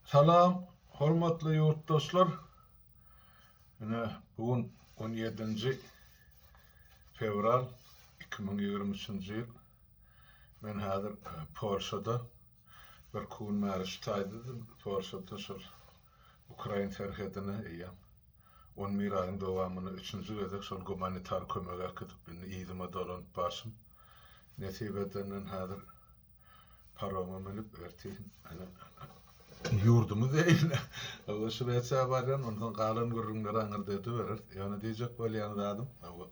Salam hormatly ýurtdoşlar! Ine, bu gün on ýedinji fewral iki müň ýigrimi üçünji ýyl. Men häzir Polşada. Bir iki gün bäri şu taýda-da Polşada şol ukrain serhedine eýýäm on bir aýyň dowamynda üçünji gezek şol gumanitar kömegi äkidip, indi yzyma dolanyp barşym. Nesip edenden häzir Paroma münüp ertir ene ýurdumy zeýle. Hawa Şwetsiýa barýan onsoň galan gürrüňleri aňyrda edibereris. Ýöne diýjek bolýan zadym hawa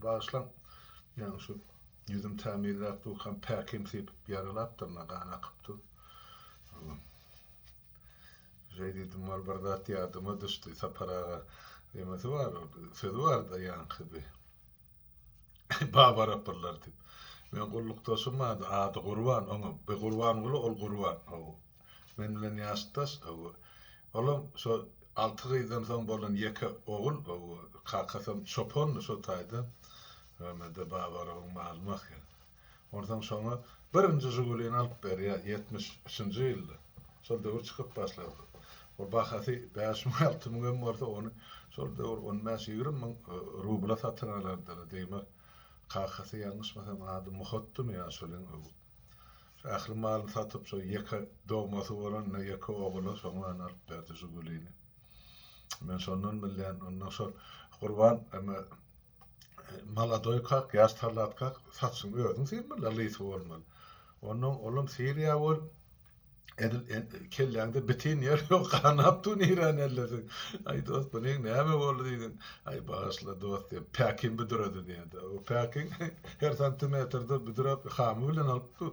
bagyşlaň ýaňy şu ýüzüm tämizläp durkam päkim sypyp ýaralapdyr ine gan akypdyr. Hawa. Şeý diýdim wal bir zat ýadyma düşdi Sapar aga nemesi bar sözi barda ýaňky bir. Baba rapyrlar diýip. Meň gullukdaşym bardy, ady Gurban, oňam, bir Gurbanguly, ol Gurban, hawa. Men bilen ýaşdaş, hawa. Olam şo alty gyzdan soň bolan ýeke ogul, hawa. Kakasam çopandy şo taýda. Höwemede Baba Rabyň malymy ahyryn. Onsoň şoňa birinji Žigulini alyp berýär, ýetmiş üçünji ýylda. Şol döwür çykyp başlapdyr. Ol bahasy bäş müň-alty müň hem bolsa, ony şol döwür on bäş-ýigrimi müň rubla satyn alardylar. Deýmek, kakasy ýalňyşmasam ady Muhatdymy ýa şoleň öwüt. Şo ähli malyny satyp, şo ýeke dogmasy bolanda, ýeke ogula şoňlany alyp berdi Žigulini. Men şondan bilýän. Ondan şol Gurban emä. Maladoý kak, ýaş talat kak, saçyň özüň sen billa lysy bolmaly. Ondan olam Siriýa bol. Edil kelläňde bitin ýer ýok, ganap dur niren ellesiň. Aý dost, bu neň näme boldy diýdiň? Aý bagyşla dost diýip, päkim büdüredi diýdi. O päkiň her santimetrde büdürep, hamy bilen alyp dur.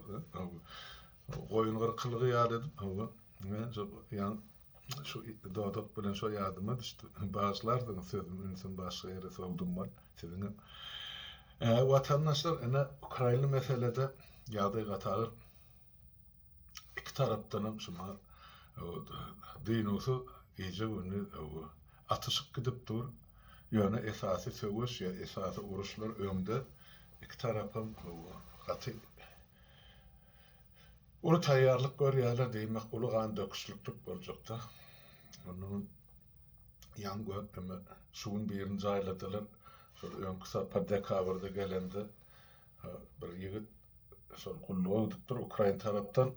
Goýun gyrkylygy ýaly edip, hawa. Ýa, Şu dodak bilen şo ýadyma düşdi. Bagyşlarsyňyz sözüm ünsüm başga ýere sowdum bol. Siziňem. Äý watandaşlar ine ukrainli meselede ýagdaý gaty agyr. Iki tarapdanam şuma dynuwsyz gije gündiz atyşyk gidip dur. Ýöne esasy söweş ýa esasy uruşlar öňde. Iki tarapam gaty. Uly taýýarlyk görýärler, diýmek, uly gan döküşliklik boljakda. Onuň ýan gökneme şugun birini jaýladylar. Şol öňki sapar dekabrda gelende bir ýigit şol gulluga gidipdir, ukrain tarapdan.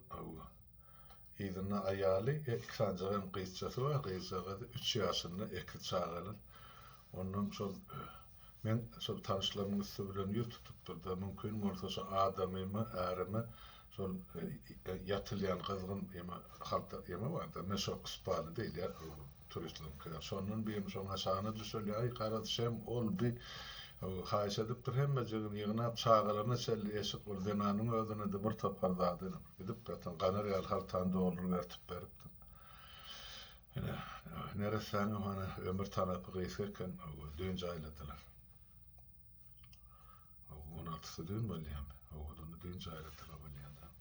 Yzynda aýaly, iki sanjak hem gyzjasy bar. Gyzjagaz üç ýaşynda, iki çagalar. Ondan şol men şol tanyşlarymyň üsti bilen ýüz tutupdyr-da, mümkin bolsa şu adamymy, ärimi şol ýatylýan gyzgyn ýeme halta ýeme bar-da, meşok spaly diýilýär. Turistleriňkiler şondan beýem şoňa şana düşeli, aý garaz şem ol bi haýyş edipdir hemmejigini ýygnap çagalaryna çenli eşik ol zenanyň özüne-de bir topar zady ilinip gidip gaty ganar ýaly haltany dolduryp ertip beripdim. Ine, neressäňem hany ömür tarapy gysga eken, owo düýn jaýladylar. Owo on altysy düýn bolýamy? Owo düýn jaýladylar bolýada.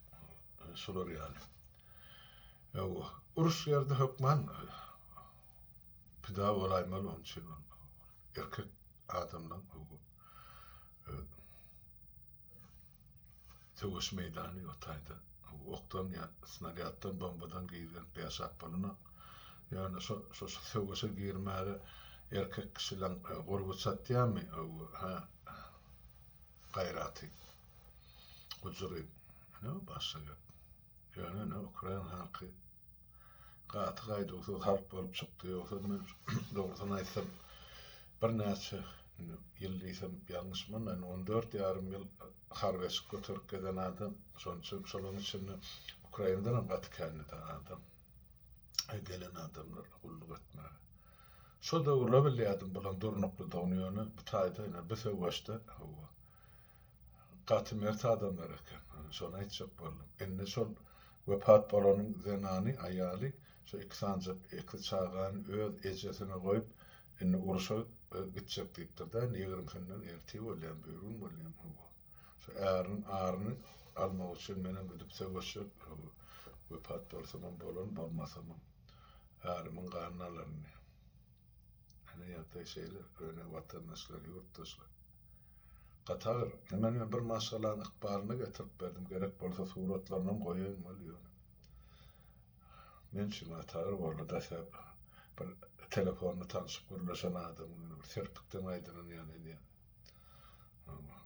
Şular ýaly. Ýok, uruş ýerde hökman pida bolaýmaly, onuň üçin ol erkek adamlaryň öwi, öz söweş meýdany ýok taýda. Okdan ýa snarýaddan, bombadan gizlenip ýaşap bolanok. Ýöne şo, şo söweşe girmäge erkek kişileriň gurby çatýarmy, öwi, hä, gaýraty, gujury? Ine, bu başga gep. Ýöne indi ukrain halky gaty gaýduwsyz halk bolup çykdy, ýogsam men dogrusyny aýtsam birnäçe ýyl diýsem ýalňyşman indi on dört ýarym ýyl harby eşik göterip gezen adam, şonuň üçin şolaryň içinde ukraindanam gaty känedi adam, gelen adamlar gulluk etmäge. Şo döwürler bilýärdim bularyň durnuklydygyny, ýöne bu taýda ine bu söweşde hawa. Gaty mert adamlar eken. Şony aýtjak boldum. Indi şol wepat bolanyň zenany, aýaly şu iki sanjak, iki çagany öz ejesine goýup, indi urşa gitjek diýipdir-dä. Indi ýigrimisinden ertir bolýam, bürgün bolýam. Hawa. Şu äriniň aryny almak üçin menem gidip söweşjek. Hawa. Wepat bolsamam bolan, bolmasamam ärimiň ganyny alaryn diýip. Ene ýagdaý şeýle, ýöne watandaşlar, ýurtdaşlar. Gatar, ine men bir maşgalanyň ykbalyny getirip berdim, gerek bolsa suratlarynam goýaýyn weli ýöne men üçin Gatar boldy dese bir telefonda tanşyp gürleşen adam ýöne bir serpikden aýdylan ýaly edýär. Hawa.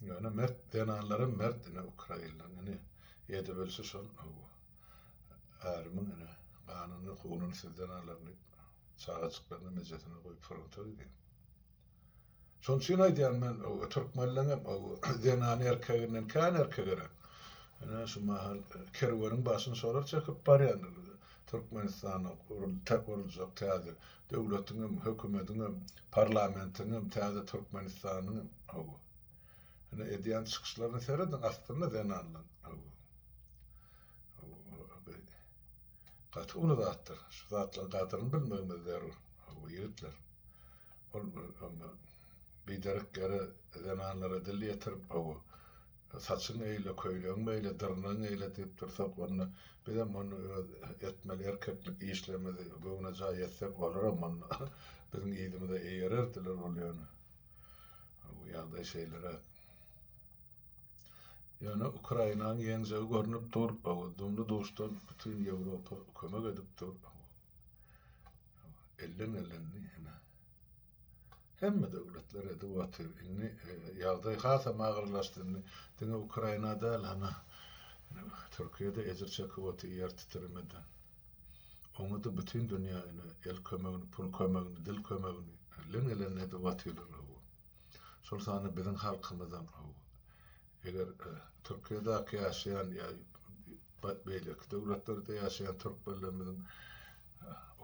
Ýöne mert zenanlaram mert ine ukrainlaryň ine edebilşi şol hawa. Ärimiň ene ganyny, kunyny sizden alaryn diýip, çagajyklaryny ejesine goýup fronta gidýär. Şonuň üçin aýdýan men, türkmenleň hem zenany erkeginden kän erkegeräk. Ene şu mahal kerweniň başyny şolar çekip barýandyr. Türkmenistanda guruljak täze döwletiň hem, hökümediň hem, parlamentiň hem, täze Türkmenistanyň hem. Hawa. Ine edýän çykyşlaryna serediň aslynda zenanlaň gaty uly zatdyr şu zatlaň gadyryny bilmegimiz zerur hawa ýigitler ol bir onda biderek ýere zenanlara dil ýetirip hawa saçyň eýle köýnegiň beýle dyrnagyň eýle diýip dursak onda bizem onda öz etmeli erkeklik işlerimizi göwnejaý etsek olaram onda biziň yzymyza eýererdiler ol ýöne. Bu ýagdaý şeýleräk. Ýöne Ukrainanyň ýeňjegi görnüp dur. Dumly-duşdan bütin Ýewropa kömek edip dur. Elleň ellendi ine. Hemme döwletler edip otyr. Indi ýagdaý hasam agyrlaşdy. Indi diňe Ukraina däl, ana, Türkiýe-de ejir çekip otyr ýer titremeden. Oňa-da bütin dünýä ine, el kömegini, pul kömegini, dil kömegini leň-elän edip atyrlar, hawa. Şol sanda biziň halkymyzam, hawa. Eger Türkiýedäki ýaşaýan ýa beýleki döwletlerde ýaşaýan türkmenlerimiziň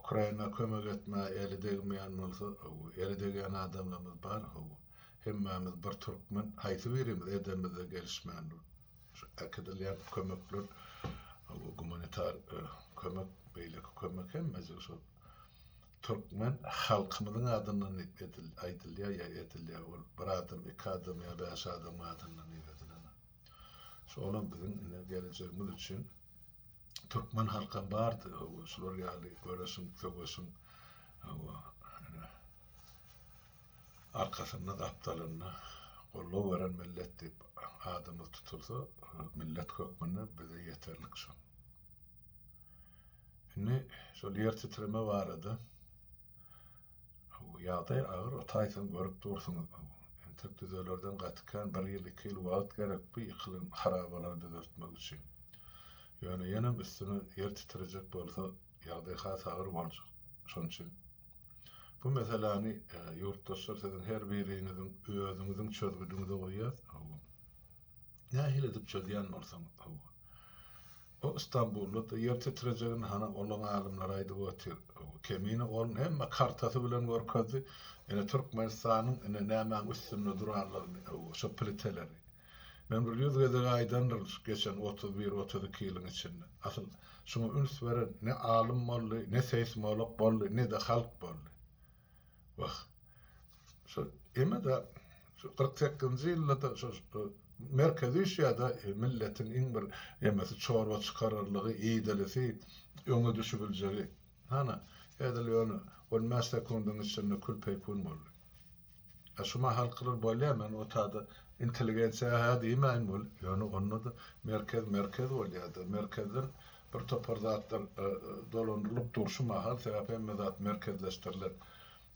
Ukraina kömek etmä eli degmeýän bolsa, hawa, eli degýän adamlarymyz bar, hawa. Hemmämiz bir türkmen, haýsy birimiz edemizde gelişmän dur. Şu äkidilýän kömekler, gumanitar kömek, beýleki kömek hemmesi şol türkmen halkymyzyň adyndan aýdylýar ýa edilýär. Ol bir adam, iki adam ýa bäş adamyň adyndan diýip edilen. Şolam biziň ine geljegimiz üçin türkmen halkam bardy. Hawa, şular ýaly göreşiň, söweşiň. Hawa, ine. Arkasynda gapdalynda goldaw beren millet diýip adymyz tutulsa millet hökmünde bize ýeterlik şol. Indi şol ýer titreme barada ýagdaý agyr o taýdan görüp dursuňyz. Entek düzelerden gaty kän bir ýyl iki ýyl wagt gerek bu ýykylan harabalary düzeltmek üçin. Ýöne ýenem üstüne ýer titrejek bolsa Ýagdaý has agyr boljak. Şonuň üçin bu meseläni ýurtdaşlar siziň her biriňiziň özüňiziň çözgüdiňize goýýas. Hawa. Nähili edip çözýän bolsaňyz, hawa. O Stambulda-da ýer titrejegini hany olaň alymlary aýdyp otyr. Hawa, Kemine onuň hemme kartasy bilen görkezdi. Ine Türkmenistanyň ine nämäň üstünde duranlygyny, hawa, şo pliteleri. Men bir ýüz gezek aýdandyryn şu geçen otuz bir, otuz iki ýylyň içinde. Asyl, şuňa üns beren ne alym boldy, ne seýsmolog boldy, ne-de halk boldy. Wah, şu eme-de, şu kyrk sekizinji ýylda-da şu Merkezi Üýşýada milletiň iň bir emesi çorba çykararlygy, iýdilisi, öňe düşübiljegi. Hany, edil ýöne on bäş sekundyň içinde kül-peýkun boldy. A şu mahalkylar bolýa, men o taýda intelligensiýa hä diýmäýin weli, ýöne onda-da merkez merkez bolýa-da, merkezden bir topar zatlar dolandyrylyp durşy mahal, sebäp hemme zat merkezleşdirilen.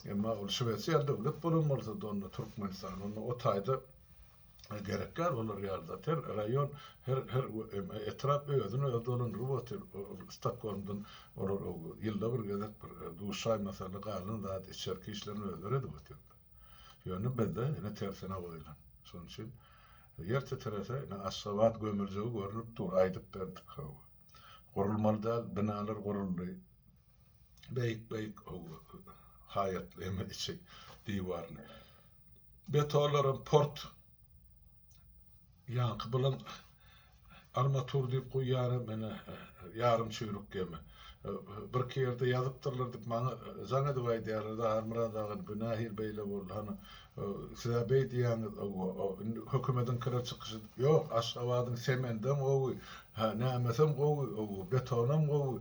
Emma ol Şwesiýa döwlet bolan bolsa-da onda Türkmenistan, onda o taýda gerekler olar ýaly zat her raýon her her etrap özüni özi dolandyryp otyr ol stokgolmdan olar ýylda bir gezek bir duşaý masaly galan zat içerki işlerini özleri edip otyrlar ýöne bizde ine tersine goýulan şonuň üçin ýer titrese ine aşgabat gömüljegi görnüp dur aýdyp berdik hawa gurulmaly däl binalar guruldy beýik beýik haýatly eme içi diwarly. Betolaram port ýaňky bilen armatur diýip guýýaram ene ýarym çüýrük gemi. Birki ýerde ýazypdyrlar diýip maňa jaň edip aýdýarlar-da Halmyrat aga indi bu nähili beýle boldy hany siz-ä beý diýýäňiz indi hökümediňkiler çykyşy ýok Aşgabadyň semendem gowy hä nämesem gowy betonam gowy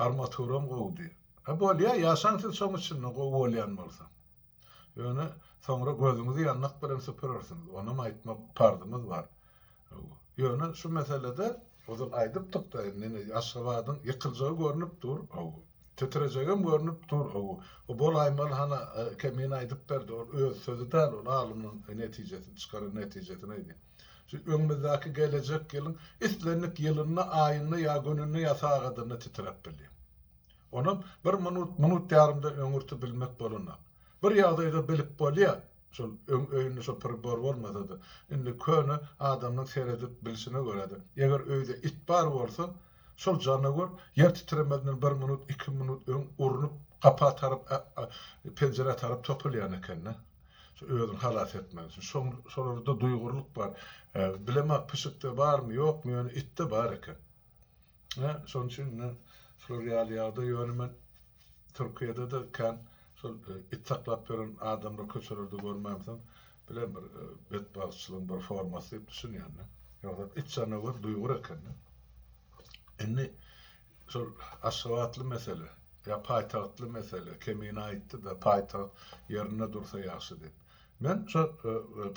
armaturam gowy diýip. Hä bolýa ýaşaň siz şoň içinde gowy bolýan bolsa. Ýöne soňra gözüňizi ýandak bilen süpürersiňiz. Onam aýtmak parzymyz bar. Ýöne şu meselede ozal aýdypdykda indi Aşgabadyň ýykyljagy görnüp dur. Titrejegem görnüp dur. O bolaýmaly hana Kemine aýdyp berdi. Ol öz sözi däl ol alymyň netijesi çykaran netijesini aýdýar. Şu öňümizdäki gelejek ýylyň islendik ýylynda, aýynda ýa gününde ýa sagadynda titräp bilýär. Onam bir minut, minut ýarymda öňürti bilmek bolanok. Bir ýagdaýda bilip bolýa, şol öň öýünde şo pribor bolmasa-da, indi köne adamynyň seredip bilşine görä-de, eger öýde it bar bolsa, şol janawar ýer titremezinden bir minut, iki minut öň urnup, gapa tarap, penjirä tarap topulýan eken-de, şo özüni halas etmek üçin. Şoň şolarda duýgurlyk bar. Bilemok, pişikde barmy, ýokmy, ýöne itde bar eken. Hä, şonuň üçin indi şular ýaly ýagdaý, ýöne men Türkiýede-de kän şol it saklap ýören adamlary köçelerde görmämsoň, bilen bir betbagtçylygyň bir formasy diýip düşünýän-de. Ýogsa it janawar duýgur eken-de. Indi şol aşgabatly mesele, ýa paýtagtly mesele, Kemine aýtdy-da, paýtagt ýerinde dursa ýagşy diýip. Men şo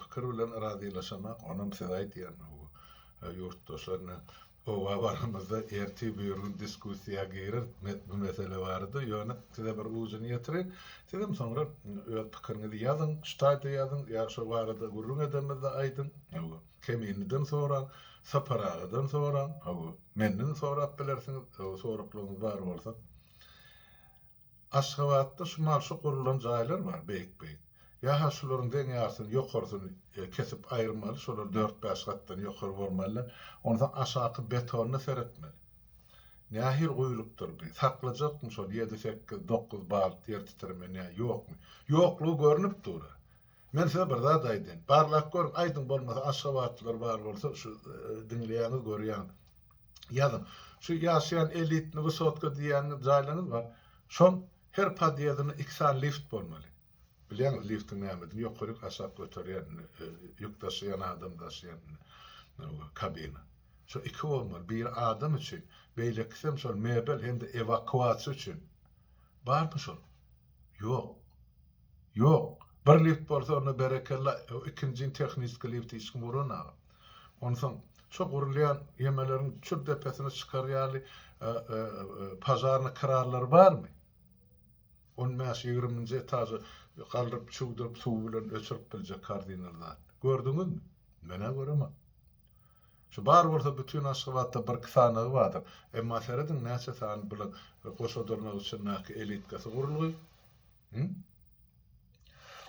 pikir bilen razylaşamak, onam size aýdýan, ýurtdaşlar, indi Howa baramyzda ertir buýrun diskussiýa gireris bu mesele barada, ýöne size bir ujuny ýetireýin. Sizem soňra öz pikiriňizi ýazyň, şu taýda ýazyň ýa şo barada gürrüň edemizde aýdyň. Hawa, Keminliden soraň, Sapar agadan soraň. Hawa, menden sorap bilersiňiz, soraklaryňyz bar bolsa. Aşgabatda şu mal şu gurulan jaýlar bar beýik beýik. Ýa-ha şularyň deň ýarysyny ýokarysyny kesip aýyrmaly şolar dört bäş gatdan ýokary bormalylar onsoň aşaky betonyna seretmeli. Nähili guýulupdyr bi saklajakmy şol ýedi sekiz dokuz balt ýer titreme nä ýokmy. Ýoklugy görünip dur-a. Men size bir zat aýdaýyn. Barlap görüň, aýdyň bolmasa aşgabatlylar bar bolsa şu diňleýäňiz görýäňiz. Ýazyň. Şu ýaşaýan elitni wysotka diýýäniňiz jaýlaryňyz bar. Şoň her podýezdinde iki sany lift bolmaly. Bilýäňiz liftiň nämedigini ýokaryk aşak göterýän ýük daşaýan adam daşaýan kabina. Şo iki bolmaly. Biri adam üçin, beýlekisem şol mebel hem-de ewakuasiýa üçin. Barmy şol? Ýok. Ýok. Bir lift bolsa onda berekella, ikinjini tehniski lift hiç kim guran aga. Onsoň şo gurulýan ýemeleriň çür depesine çykar ýaly pažarnyý krarlary barmy? On bäş, ýigriminji etaža galdyryp, çüwdürip, suw bilen öçürip biljek kardinal zat. Gördüňizmi? Men-ä göremok. Şu bar bolsa bütin Aşgabatda birki sanagy bardyr. Emma serediň näçe sany bilen goşadylmak üçin näki elitkasy gurulgy. Hü?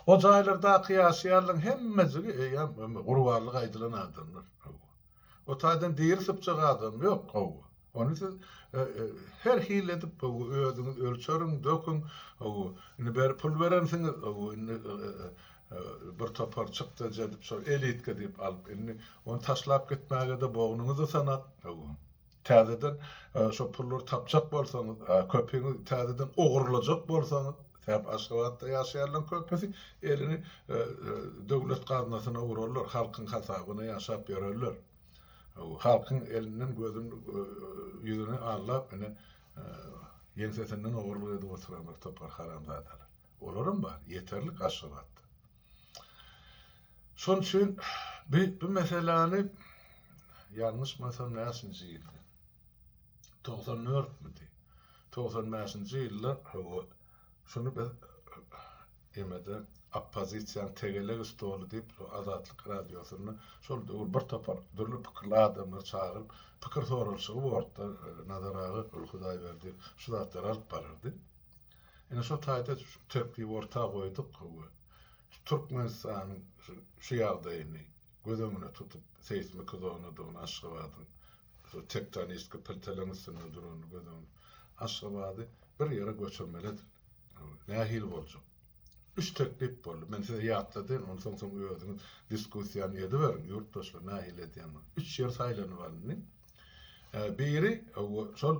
O jaýlardaky ýaşaýanlaň hemmejigi eýýäm gurbanlyk aýdylan adamlar. Hawa. O taýdan diri sypjak adam ýok. Hawa. Ony siz her hili edip özüňiz ölçeriň, döküň. Indi beri pul berensiňiz, indi bir topar çykdajy edip şol elitka diýip alyp, indi ony taşlap gitmäge-de bognuňyzy sanap, täzeden şo pullary tapjak bolsaňyz, köpüňi täzeden ogurlajak bolsaňyz, sebäp Aşgabatda ýaşaýanlaryň köpüsi elini döwlet gaznasyna urarlar, halkyň hasabyna ýaşap ýörerler. Halkyň elinden gözüni ýüzüni allap ine ýeňsesinden ogurlyk edip oturan bir topar haramzadalar. Olaram bar, ýeterlik Aşgabatda. Şonuň üçin bi bu meseläni ýalňyşmasam näçinji ýyldy? Togsan dörtmidi? Togsan bäşinji ýylda hawa Şuny biz emede oppozisiýanyň tegelek stoly diýip şu Azatlyk radiosynda şol döwür bir topar dürli pikirli adamlary çagyryp pikir soralyşygy bortda Nazar aga Gül Hudaýberdi şu zatlary alyp barardy. Ine şo taýda şu tertibi orta goýduk we şu Türkmenistanyň şu ýagdaýyny Göz öňüne tutup, seýsmiki zonadygyny Aşgabadyň, şu tektonistki pilteleň üstünde duranyny göz öňüne. Aşgabady bir ýere göçürmeli edil. Nähili boljak? Üç teklip boldy. Men size ýatladyn, onsoň soň özüňiz diskussiýany ediberiň, ýurtdaşlar nähili edýändigini. Üç ýer saýlanyp alyndy. Biri şol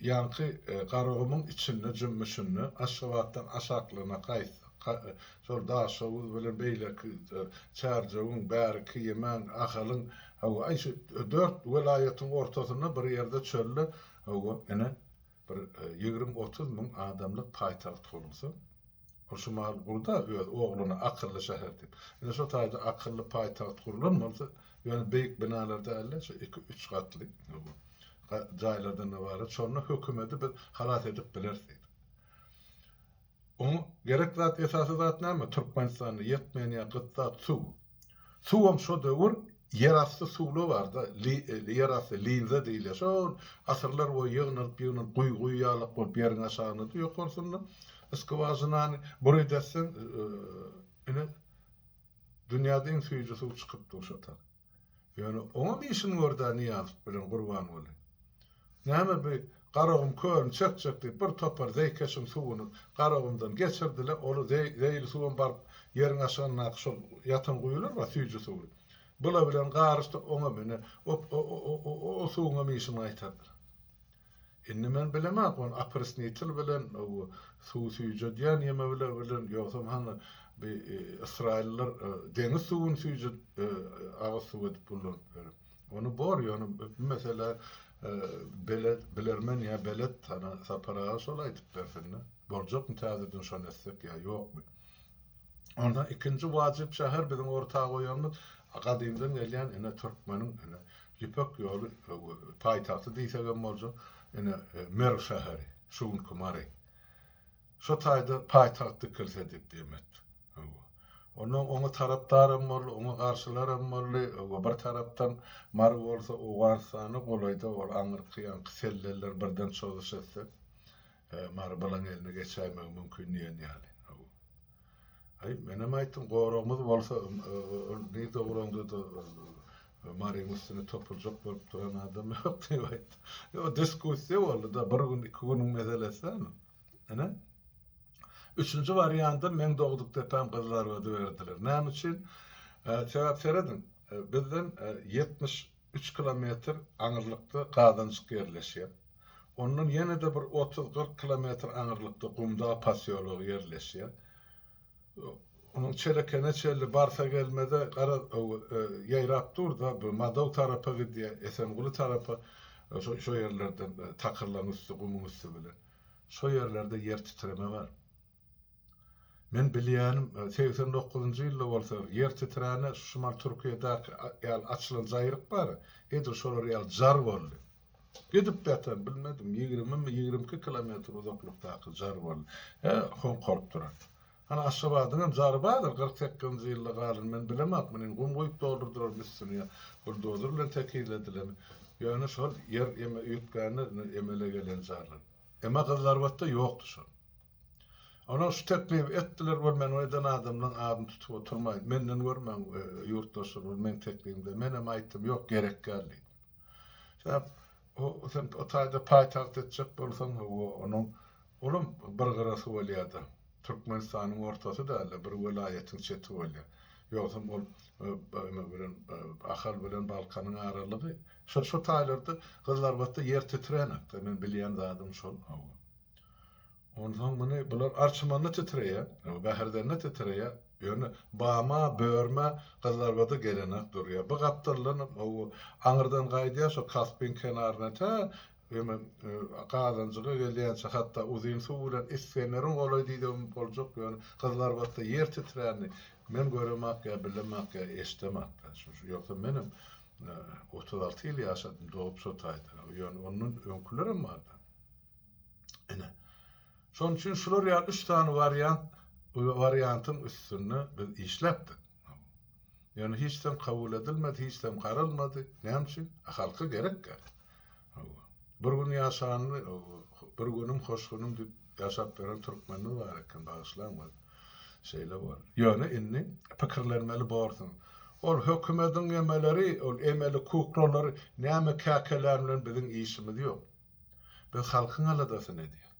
ýaňky Garagumuň içinde jümmüşinde Aşgabatdan aşaklygyna gaýtsak, şol Daşoguz bilen beýleki Çärjewiň, bärki Ýemen, Ahalyň, hawa, aý, şu dört welaýatyň ortasynda bir ýerde çölde, hawa, ine, Bir ýigrimi-otuz müň adamlyk paýtagt gurulsa, ol şu mahaly gurda öz ogluna akylly şäher diýip. Ine şo taýda akylly paýtagt gurlan bolsa, ýöne beýik binalar däl-de, şu iki-üç gatly jaýlardan ybarat, şonda hökümeti biz halas edip bileris diýdi. Oň gerek zat esasy zat näme Türkmenistanda ýetmeýän ýa gyt zat suw. Suwam şo döwür ýer asty suwla barda ýer asty linza diýilýär şol asyrlar boýy ýygnalyp ýygnalyp guýy guýy ýalak bolup ýeriň aşagynda ýokarsynda skwažinany burydatsaň ine dünýäde iň süýji suw çykypdyr şo taýdan. Ýöne oňam işin bor-da Nyýazow bilen Gurbanguly. Näme bi Garagum kölüni çekjek diýip bir topar zeýkeşiň suwuny Garagumdan geçirdiler, ol zeýil suwam baryp ýeriň aşagyndaky şol ýatan guýular bar süýji suwly. Bula bilen garyşdy oňam ine o suwuňam işini gaýtardylar. Indi men bilemok ony oprysnitel bilen bu suw süýjedýän ýeme bile bilen ýogsam hany bi ysraýyllar deňiz suwuny süýjüdip agyz suw edip gullanyp ýör. Ony bor ýöne bu meselä bele bilermen ýa belet hany Sapar aga şol aýdyp bersinde. Boljakmy täzeden şony etsek ýa ýokmy. Onda ikinji wajyp şäher biziň orta goýanymyz gadymdan gelýän ine türkmeniň ine Ýüpek ýoly paýtagty diýsek hem boljak, ine, Merw şäheri, şu günki Mary. Şo taýda paýtagt dikilse diýip dem etdik. Hawa. Onda oňa tarapdar hem boldy, oňa garşylar hem boldy. Hawa, bir tarapdan Mary bolsa Owganystana golaýda, ol aňyrky ýaňky sellerler birden çozuş etse. Mary balaň eline geçäýmegi mümkin diýen ýaly. Hawa. Aý, menem aýtdym, goragymyz bolsa, ol ne dogranda-da Maryň üstüne topuljak bolup duran adam ýok diýip aýtdym. Ýok, diskussiýa boldy-da, bir gün, iki günüň meselesi däl ol. Ine, üçünji wariandy, meň dogduk depem Gyzylarbady berdiler. Näme üçin? Sebäp serediň, bizden ýetmiş Üç kilometr aňyrlykda gazanjyk ýerleşýär. Ondan ýene-de bir otuz-kyrk kilometr aňyrlykda Gumdag posýology ýerleşýär. Onuň çelekene çenli barsa-gelmez-ä, garaz, ýaýrap dur-da, bu Madow tarapa gidýär, Esenguly tarapa, şo ýerlerden takyrlaryň üsti, gumuň üsti bilen. Şo ýerlerde ýer titreme bar. Men bilýänim, segsen dokuzynjy ýylda bolsa, ýer titrände, şu şumal Türkiýedäki ýaly açylan jaýryk bar, edil şolar ýaly jar boldy. Gidip-de atan, bilmedim, ýigrimimi, ýigrimi iki kilometr uzaklykdaky jar boldy. Hä, hoňkaryp duran. Hany, Aşgabadyň hem jary bardyr, kyrk sekizinji ýylda galan, men bilemok, muny gum guýup doldurdyrarmy üstüni ýa buldozer bilen tekizledilemi, ýöne şol ýer eme üýtgände emele gelen jarlar. Emma gyzlar batda ýokdy şol. Olar şu teklibi etdiler, Ol meniň eden adamlaryň adyny tutup oturmaýyn. Menden gör meň ýurtdaşlar, ol meň teklibimde. Menem aýtdym, Ýok, gerek däl diýdim. Sebäp o, sen o taýda paýtagt etjek bolsaň, hawa, onuň olam bir gyrasy bolýar-da. Türkmenistanyň ortasy däl-de, bir welaýatyň çeti bolýar. Ýogsam ol nime bilen, Ahal bilen Balkanyň aralygy Şo şo taýlarda gyzlarbatda ýer titrenokda men bilýän zadym şol hawa. Onsoň muny bular arçymanda titreýä, bäherdende titreýä, ýöne bama, börmä, gyzlarbada gelenok durýa. Bu gapdaldanam hawa aňyrdan gaýdýa şo Kaspyň kenaryna tä eme Gazanjyga gelýänçä hatda uzyn suw bilen Isfeneriň golaý diýsegem boljak ýöne gyzlarbatda ýer titränini men göremok ýa bilemok ýa eşidemok da şo ýogsa menem Otuz alty ýyl ýaşadym, dogup şo taýda. Ýöne ondan öňkülerem bardy. Ine, şonuň üçin şular ýaly üç sany wariant, wariantyň üstünde biz işläpdik. Ýöne hiç zam kabul edilmedi, hiç zam garalmady. Näme üçin? Halka gerek-gä. Hawa. Bir gün ýaşanly, bir günüm hoş günüm diýip ýaşap beren türkmenimiz bar eken, bagyşlaň bir. Şeýle boldy. Ýöne indi pikirlenmeli borsuň. Ol hökümediň emeleri, ol emeli kuklalar näme käkelän bilen biziň işimiz ýok. Biz halkyň aladasyny edýäs.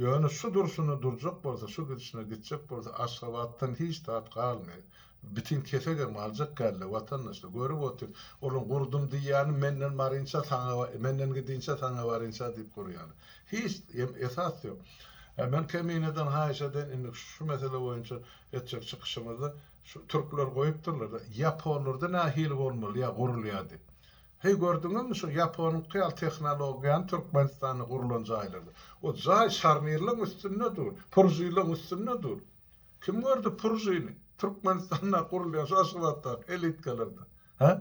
Ýöne şu durşuna durjak bolsa, şu gidişine gitjek bolsa, Aşgabatdan hiç zat galmaýar. Bitin kesegem aljak däldir, watandaşlar. Görüp otyr, olaň gurdum diýýäni menden barynça saňa, menden gidinçä saňa barynça diýip gurýany. Hiç em esas ýok. Hä, men Kemineden haýyş edeýin, indiki şu mesele boýunça etjek çykyşymyzda, şu türkler goýupdyrlar-da, ýaponlarda nähili bolmaly ýa gurulýar diýip. Heý gördüňizmi şu ýaponyňky ýaly tehnologiýany Türkmenistanda gurlan jaýlarda. O jaý şarnirleň üstünde dur, puržileň üstünde dur. Kim gördi puržini Türkmenistanda gurulýan şu Aşgabatdaky elitkalarda? Hä?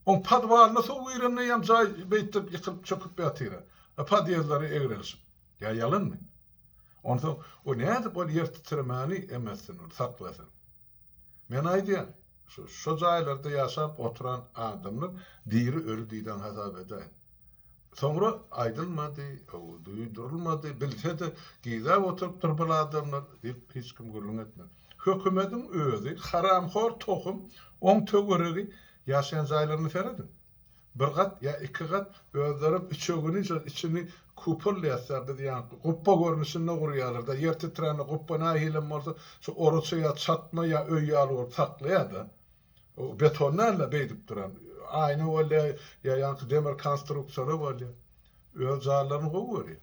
Oň podwalyna suw girende ýam jaý beýtdip ýykylyp çöküp ýatyra. Podýezleri egrelişip. Ýa ýalanmy? Onsoň o nädip ol ýertitremäni emessin ol saklasyn. Men aýdýan, şo jaýlarda ýaşap oturan adamlar diri öli diýden hasap edäýin. Soňra aýdylmady, duýdurylmady, bilse-de gizläp oturypdyr bul adamlar diýip hiç kim gürrüň etmedi. Hökümediň özi haramhor tohum oň töweregi ýaşaýan jaýlaryna serediň. Bir gat ýa iki gat özlerem üçegini şol içini kupol diýäsdä biz ýa gupba görnüşinde gurýarlar-da, ýer titrände gupba nähilem bolsa şu oraça ýa çatma ýa öý ýaly bolup saklaýar-da. O beton däl-de beýdip duran. Aýna bolýar ýa ýaňky demir konstruksiýalar bolýar. Öz jaýlaryny gowy görýär.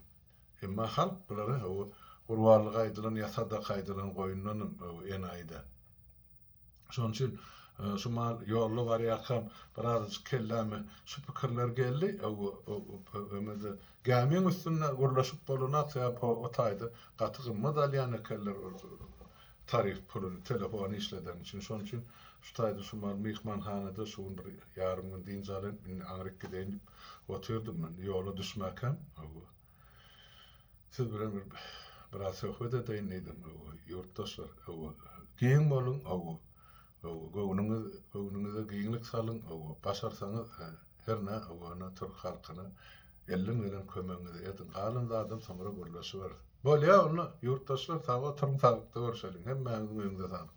Emma halk bulary o gurbanlyga aýdylan ýa sadaka aýdylan goýundanam enaýy däl. Şonuň üçin şumal ýolda barýarkam birazajyk kelläme şu pikirler geldi. Öňe-de gämiň üstünde gürleşip bolunak, sebäp o taýda gaty gymmat alýan ekenler tarif puluny, telefony işledeniň üçin. Şonuň üçin şu taýda şumal myhmanhanada şu gün bir ýarym gün dynç alyň, indi aňryk gideýin diýip otyrdym men. Ýola düşmäkäm. Siz bilen bir biraz söhbet edeýin diýdim. Hawa, ýurtdaşlar. Hawa, giň boluň. Hawa. Hawa, göwnüňiz, göwnüňize giňlik salyň. Hawa, başarsaňyz, hä, hernä, hawa, ene türk halkyna elden gelen kömegiňizi ediň. Galan zadam soňra gürleşiberis. Bolýa onda, ýurtdaşlar, sag oturyň, saglykda görşeliň. Hemmäňiziň öýüňize saglyk.